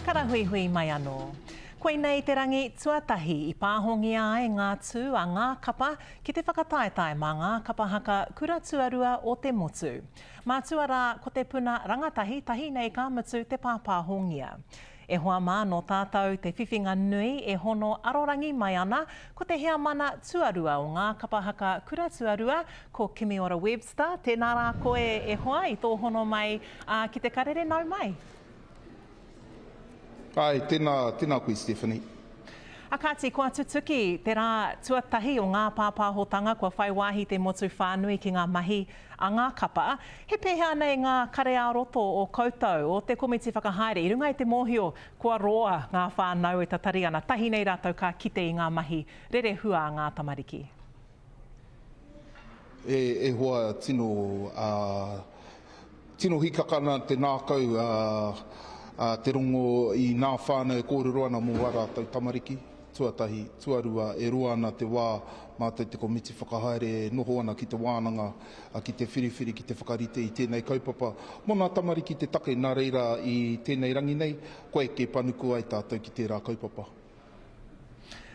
Karahuihui mai anō. Koinei te rangi tuatahi i pāhongia ai ngā tū a ngā kapa ki te whakataetae mā ngā kapa haka kura tuarua o te motu. Mātua rā ko te puna rangatahi tahi nei ka mutu te pāpāhongia. E hoa mā nō tātou te whiwhinga nui e hono arorangi mai ana ko te heamana tuarua o ngā kapa haka kura tuarua Ko Kimiora Webster, tēnā rā koe e hoa i tō hono mai ki te karere nau mai. Ae, tēnā, tēnā koe Stephanie. A kāti, kua tutuki te rā tuatahi o ngā pāpāhotanga kua whai wāhi te motu whānui ki ngā mahi a ngā kapa. He pēhea nei ngā kare-ā-roto o koutou, o te komiti whakahaere i runga i te mōhio kua roa ngā whānau e tatari ana, tahi nei rātou ka kite i ngā mahi rerehua a ngā tamariki? E hoa tino tino hikaka ana te ngākau a te rongo i ngā whānau e kōrero ana mō ā rātou tamariki, tuatahi, tuarua, e roa ana te wā mātou te komiti whakahaere e noho ana ki te wānanga ki te whiriwhiri, ki te whakarite i tēnei kaupapa mō ngā tamariki te take nā reira i tēnei rangi nei kua eke panuku ai tātou ki tērā kaupapa.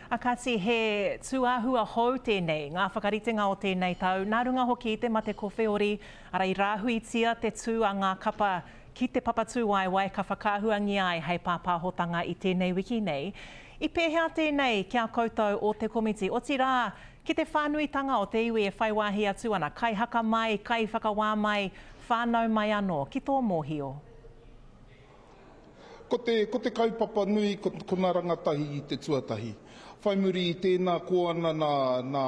A kati, he tūāhua hou tēnei, ngā whakaritenga o tēnei tau, nā runga hoki i te mate ko Wheori, ara i rāhuitia te tū a ngā kapa ki te papatūwaewae ka whakaahuangia ai hei pāpāhotanga i tēnei wiki nei. I pēhea tēnei ki a koutou o te komiti, otirā, ki te whānuitanga o te iwi e whai wāhi atu ana, kaihaka mai, kaiwhakawā mai, whānau mai anō, ki tō mōhio? Ko te, ko te kaupapa nui, ko, ko na rangatahi i te tuatahi. Whai muri i tēnā ko ana nā, nā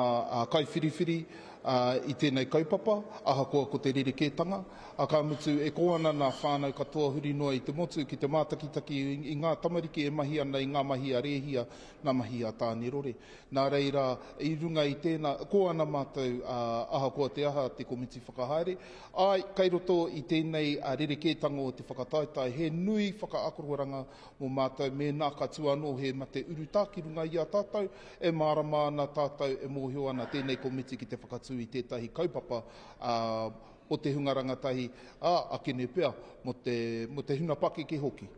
kaiwhiriwhiri a, i tēnei kaupapa, ahakoa ko te rerekētanga, a ka mutu e ko ana nā whānau katoa huri noa i te motu ki te mātakitaki i ngā tamariki e mahi ana i ngā mahi a Rēhia, nā mahi a Tānerore. Nā reira, i runga i tēnā, ko ana mātou, a, ahakoa te aha te komiti whakahaere, Āe, kei roto i tēnei rerekētanga o te whakataetae he nui whakaakororanga mō mātou mēnā ka tū anō he mate urutā ki runga i a tātou, e mārama ana tātou, e mōhio ana tēnei komiti ki te whakatū i tētahi kaupapa mō te hunga rangatahi, ā, akene pea mō te hunga pakeke hoki.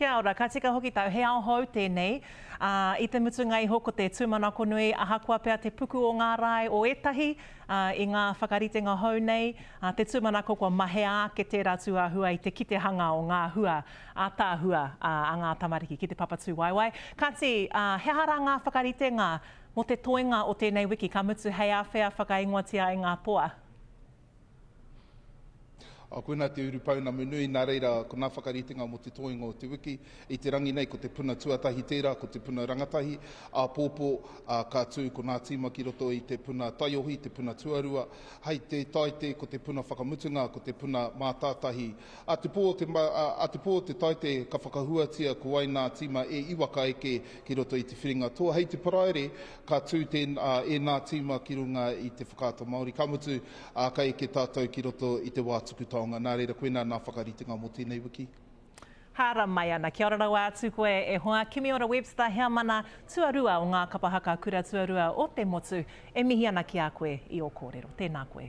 Kia ora, ka tika hoki tau, he ao hou tēnei, ā, i te mutunga iho ko te tūmanako nui, ahakoa pea te puku o ngā rae o ētahi, ā, i ngā whakaritenga hou nei, ā, te tūmanako kua mahea ake tērā tūāhua i te kitehanga o ngā hua ātaahua a ngā tamariki ki te Papatūwaewae. Kāti, ā, he aha rā ngā whakaritenga mō te toenga o tēnei wiki, ka mutu hei āwhea whakaingoatia ai ngā toa? A koinā te urupounamu nui, nā reira ko ngā whakaritenga mō te toenga o te wiki. I te rangi nei ko te puna tuatahi tērā, ko te puna rangatahi, āpōpō, ā, ka tū ko ngā tīma ki roto i te puna taiohi, te puna tuarua. Hei te Taite ko te puna whakamutunga, ko te puna mātātahi. A te pō o te, a te pō o te Taite ka whakahuatia ko wai ngā tīma e iwa ka eke ki roto i te whiringa toa. Hei te Paraire, Ka tū ēnā tīma ki runga i te whakaata Māori, ka mutu, ka eke tātou ki roto i te wā tuku taonga. Nā reira, koinā ngā whakaritenga mō tēnei wiki. Hara mai ana. Kia ora rawa atu koe e hoa. Kimiora Webster Heamana, tuarua o ngā Kapa Haka Kura Tuarua o te Motu, e mihi ana ki a koe i o kōrero. Tēnā koe.